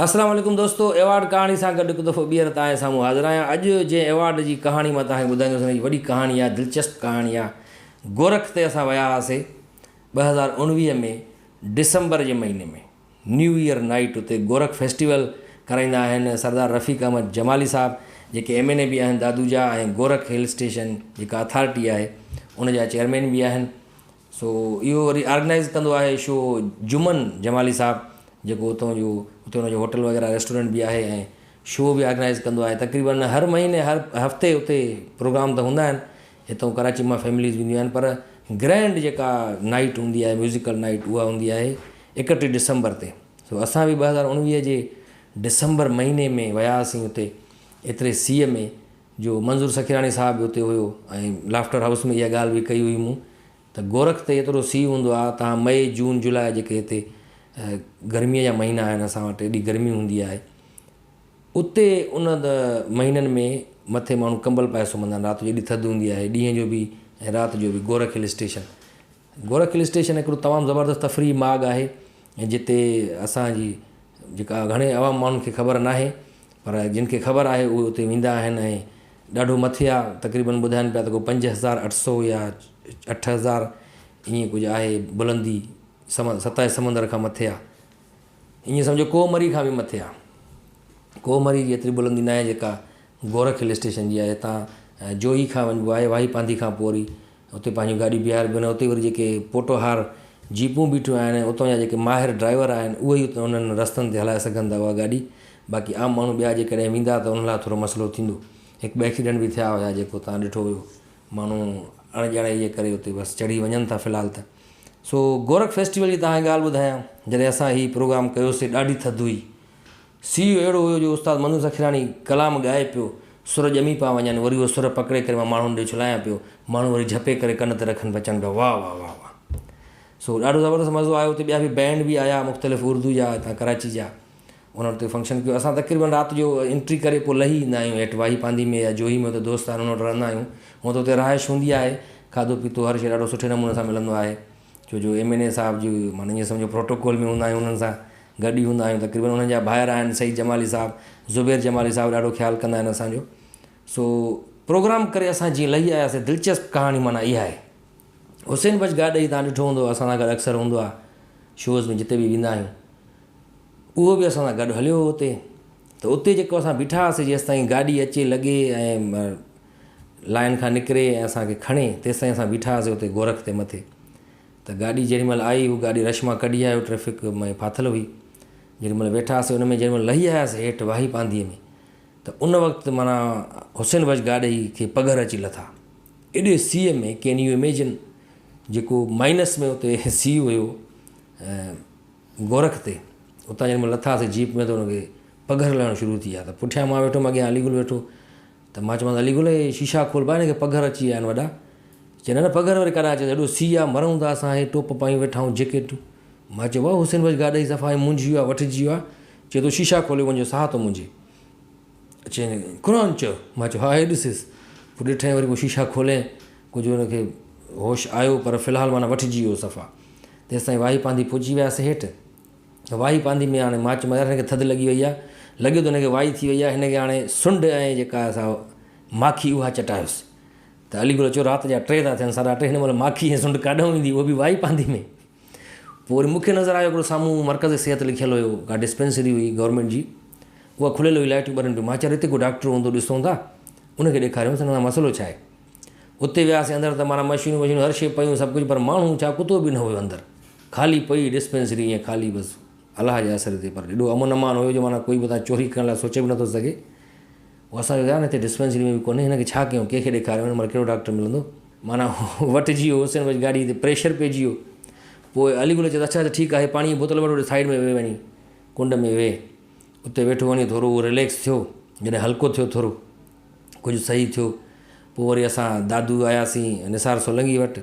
السلام عليڪم دوستو ايوارڊ ڪهاڻي سان گڏ هڪ دفعو ٻيهر تهانجي سامهون حاضر آهيان اڄ جنهن ايوارڊ جي ڪهاڻي مان تهانکي ٻڌائيندس ان جي وڏي ڪهاڻي آهي دلچسپ ڪهاڻي آهي گورک تي اسان ويا هئاسي ٻه هزار اڻويهه ۾ ڊسمبر جي مهيني ۾ نيو ايئر نائيٽ اتي گورک فيسٽيول ڪرائيندا آهن سردار رفيق احمد جمالي صاحب جيڪي ايم اين اي به آهن دادو جا ۽ گورک هل اسٽيشن جيڪا اٿارٽي آهي ان جا چيئرمين به آهن سو اهو وري آرگنائيز ڪندو آهي شو جمن جمالي صاحب جيڪو اتو جو اتي ان جو هوٽل وغيره ريسٽورنٽ به آهي ۽ شو به آرگنائيز ڪندو آهي تقريبن هر مهيني هر هفتي اتي پروگرام ته هوندا آهن هتو ڪراچي مان فيمليز بي اينديون آهن پر گرينڊ جيڪا نائٽ هوندي آهي ميوزيڪل نائٽ اها هوندي آهي اڪٽيهه ڊسمبر تي سو اسان به ٻه هزار اوڻويهه جي ڊسمبر مهيني ۾ وياسين اتي ايتري سيء ۾ جو منظور سخيراڻي صاحب به اتي هيو ۽ لافٽر هائوس ۾ اها ڳالهه به ڪئي هئي مون ته گورک تي ايترو سي هوندو آهي تان مئي جون جولاء جيڪي هتي گرمي جا مهينا آهن اسان وٽ ايڏي گرمي هوندي آهي اتي ان مهينن ۾ مٿي ماڻهو ڪمبل پائي سمهندا آهن رات جو ايڏي ٿڌ هوندي آهي ڏينهن جو به ۽ رات جو به Gorakh hill station Gorakh hill station هڪڙو تمام زبردست تفريحي ماڳ آهي جتي اسان جي جيڪا گهڻي عوام ماڻهن کي خبر ناهي پر جن کي خبر آهي اهي اتي ويندا آهن ۽ ڏاڍو مٿي آهي تقريبن ٻڌائن پيا ته ڪو پنج هزار اٺ سو يا اٺ هزار ائين ڪجهه آهي بلندي سم سطح سمندر کان مٿي آهي ائين سمجهو ڪوه مري کان به مٿي آهي ڪوه مري جي ايتري بلندي ناهي جيڪا گورک هل اسٽيشن جي آهي هتان جوهي کان وڃبو آهي واهي پانڌي کان پوري اتي پنهنجون گاڏيون بيهاري بيهن اتي وري جيڪي پوٽوهار جيپون بيٺيون آهن ۽ اتان جا جيڪي ماهر ڊرائيور آهن اهي ئي انهن رستن تي هلائي سگهن ٿا اها گاڏي باقي عام ماڻهو ٻيا جيڪڏهن ويندا ته انهن لاء ٿورو مسئلو ٿيندو هڪ ٻه ايڪسيڊنٽ به ٿيا هيا جيڪو توهان ڏٺو هيو ماڻهو اڻ ڄاڻائي جي ڪري اتي بس چڙهي وڃن ٿا في الحال ته سو گورک فيسٽيول جي توهان کي ڳالهه ٻڌايان جڏهن اسان هي پروگرام ڪيوسي ڏاڍي ٿڌ هئي سيء اهڙو هيو جو استاد منظور سخيراڻي ڪلام ڳائي پيو، سر ڄمي پيا وڃن، وري اهو سر پڪڙي ڪري مان ماڻهن ڏي ڇلايان پيو، ماڻهو وري جهپي ڪري ڪن تي رکن پيا اچن پيا واهه واهه واهه واهه. سو ڏاڍو زبردست مزو آيو اتي ٻيا به بينڊ به آيا مختلف اردو جا هتان ڪراچي جا انهن اتي فنڪشن ڪيو اسان تقريبن رات جو انٽري ڪري پوء لهي ايندا آهيون هيٺ واهي پانڌي ۾ يا جوهي ۾ اتي دوست آهن انهن وٽ رهندا آهيون هونئن ته اتي رهائش هوندي آهي کاڌو پيتو هر شيء ڏاڍو سٺي نموني سان ملندو آهي. ڇو جو ايم اين اي صاحب جي معني جيئن سمجهو پروٽوڪول ۾ هوندا آهيون انهن سان گڏ ئي هوندا آهيون تقريبن انهن جا ڀائر آهن سعيد جمالي صاحب زبير جمالي صاحب ڏاڍو خيال ڪندا آهن اسان جو سو پروگرام ڪري اسان جيئن لهي آياسين دلچسپ ڪهاڻي معني اها آهي حسين بچ گاڏهي تان ڏٺو هوندو اسان سان گڏ اڪثر هوندو آهي شوز ۾ جتي به ويندا آهيون اهو به اسان سان گڏ هليو هو اتي ته اتي جيڪو اسان بيٺا هئاسين جيسيتائين گاڏي اچي لڳي ۽ لائن کان نڪري ۽ اسان کي کڻي، تيستائين اسان بيٺا هئاسين اتي گورک تي مٿي ته گاڏي جيڏي مهل آئي، هو گاڏي رش مان ڪڍي آيو، ٽريفڪ ۾ ڦاٿل هئي، جيڏي مهل ويٺا هئاسين ان ۾ جيڏي مهل لهي آياسين هيٺ واهي پانڌيء ۾ ته ان وقت معنيٰ حسين بخش گاڏهي کي پگهر اچي لٿا، ايڏي سيء ۾، ڪين يو اميجن جيڪو مائنس ۾ اتي سيء هيو گورک تي، اتان جيڏي مهل لٿاسين جيپ ۾ ته ان کي پگهر لهڻ شروع ٿي ويا ته پٺيان مان ويٺو هئم اڳيان علي گل ويٺو ته مان چيومانس علي گل هي شيشا کول با هن کي پگهر اچي ويا آهن وڏا. چي نه نه پگهر وري ڪڏهن اچي ٿو هيڏو سي آهي مرئون ٿا اسان هي ٽوپ پايون ويٺا آهيون جيڪيٽون. مان چيو واهه حسين بخش گاڏهي صفا هي مونجهي ويو آهي وٺجي ويو آهي. چي تو شيشا کولي منهنجو ساهه ٿو منجهي. چي قرآن چيو. مان چيو ها هي ڏسيس. پوء ڏٺائين وري پوء شيشا کولين ڪجهه هن کي هوش آيو پر في الحال معنيٰ وٺجي ويو صفا. تيستائين واهي پانڌي پهچي وياسين هيٺ. وائي پاندي ۾ هاڻي ماچ ميار هن کي ٿڌ لڳي وئي آهي. لڳي ٿو هن کي وائي ٿي وئي آهي. هن کي هاڻي سنڍ ۽ جيڪا آهي سا ماکي اها چٽايوس. ته علي گل چيو رات جا ٽي ٿا ٿين ساڍا ٽي هن مهل ماکي ۽ سنڍ ڪاڏانهون ايندي اهو به وائي پاندي ۾. پوء وري مون کي نظر آيو هڪڙو سامهون مرڪز صحت لکيل هيو ڪا ڊسپينسري هئي گورنمينٽ جي اها کليل هئي لائٽيون ٻرن پيون ماچيار هتي ڪو ڊاڪٽر هوندو ڏسون ٿا ان کي ڏيکاريونس هن سان مسئلو ڇا آهي. اتي وياسين اندر ته معنيٰ مشينون وشينون هر شيء پيون سڀ ڪجهه پر ماڻهو ڇا ڪتو به نه هيو اندر خالي پئي ڊسپينسري ائين خالي بس الله جي آسري تي پر ايڏو امن امان هيو جو معنيٰ ڪوئي به اتان چوري ڪرڻ لاء سوچي به نه ٿو سگهي پوء اسان چيو يار هتي ڊسپينسري ۾ به ڪونهي هن کي ڇا ڪيون ڪنهن کي ڏيکاريون هن مهل ڪهڙو ڊاڪٽر ملندو معنيٰ وٽجي ويو حسين بچ گاڏي تي پريشر پئجي ويو پوء علي گل چيس اڇا اڇا ٺيڪ آهي پاڻي جي بوتل وٺ هوڏي سائيڊ ۾ ويهه وڃي ڪنڊ ۾ ويهه اتي ويٺو وڃي ٿورو رليڪس ٿيو جڏهن هلڪو ٿيو ٿورو ڪجهه صحيح ٿيو. پوء وري اسان دادو آياسين نثار سولنگي وٽ.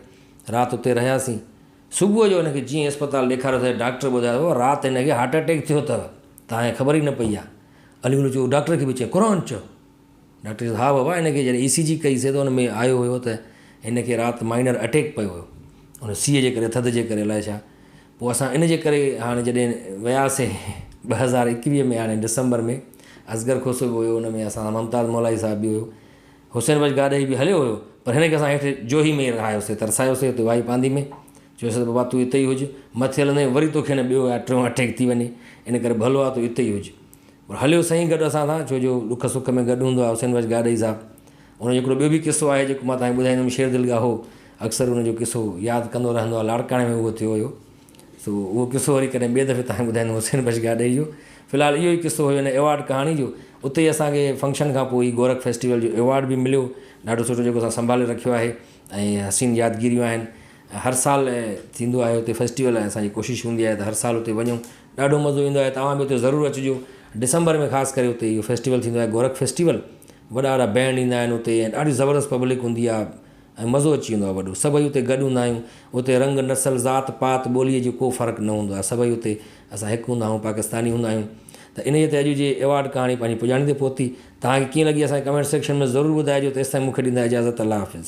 رات اتي رهياسين. صبح جو هن کي جيئن اسپتال ڏيکاريوسين ڊاڪٽر ٻڌايو رات هن کي هارٽ اٽيڪ ٿيو اٿئو. تانئين خبر ئي نه پئي آ. علي گل چيو ڊاڪٽر کي به چئين قرآن چئو. ڊاڪٽر چيس ها بابا هن کي جڏهن اي سي جي ڪئي سين ته ان ۾ آيو هيو ته هن کي رات مائنر اٽيڪ پيو هيو. ان سيء جي ڪري ٿڌ جي ڪري الائي ڇا. پوء اسان ان جي ڪري هاڻي جڏهن وياسين ٻه هزار ايڪويهه ۾ هاڻي ڊسمبر ۾ اصغر کوسو به هيو ان ۾ اسان ممتاز مولائي صاحب به هيو حسين بخش گاڏهي به هليو هيو پر هن کي اسان هيٺ جوهي ۾ ئي رهايوسي ترسايوسي اتي وائي پاندي ۾ چيو سين ته بابا تون اتي ئي هج مٿي هلندين وري توکي نه ٻيو يا ٽيون اٽيڪ ٿي وڃي ان ڪري ڀلو آ تون اتي ئي هج پر هليو سائين گڏ اسان سان ڇو جو ڏک سک ۾ گڏ هوندو آهي حسين بخش گاڏهي صاحب. ان جو هڪڙو ٻيو به قصو آهي جيڪو مان توهان کي ٻڌائيندم شير دل ڳاهو اڪثر ان جو قصو ياد ڪندو رهندو آهي لاڙڪاڻي ۾ اهو ٿيو هيو سو اهو قصو وري ڪڏهن ٻئي دفعي توهان کي ٻڌائيندم حسين بخش گاڏهي جو في الحال اهو ئي قصو هيو هن ايوارڊ ڪهاڻي جو اتي ئي اسان کي فنڪشن کان پوء ئي گورک فيسٽيول جو ايوارڊ به مليو ڏاڍو سٺو جيڪو اسان سنڀالي رکيو آهي ۽ حسين يادگيريون آهن هر سال ٿيندو آهي اتي فيسٽيول ۽ اسان جي ڪوشش هوندي آهي ته هر سال اتي وڃون ڏاڍو مزو ايندو آهي توهان به اتي ضرور اچجو ڊسمبر ۾ خاص ڪري اتي اهو فيسٽيول ٿيندو آهي گورک فيسٽيول وڏا وڏا بينڊ ايندا آهن اتي ۽ ڏاڍي زبردست پبلڪ هوندي آهي ۽ مزو اچي ويندو آهي وڏو سڀئي اتي گڏ هوندا آهيون اتي رنگ نسل ذات پات ٻولي جو ڪو فرق نه هوندو آهي سڀئي اتي اسان هڪ هوندا آهيون پاڪستاني هوندا آهيون ته انهي تي اڄ جي ايوارڊ ڪهاڻي پنهنجي پڄاڻي تي پهتي توهان کي ڪيئن لڳي اسان کي ڪمينٽ سيڪشن ۾ ضرور ٻڌائجو تيستائين مون کي ڏيندا اجازت الله حافظ.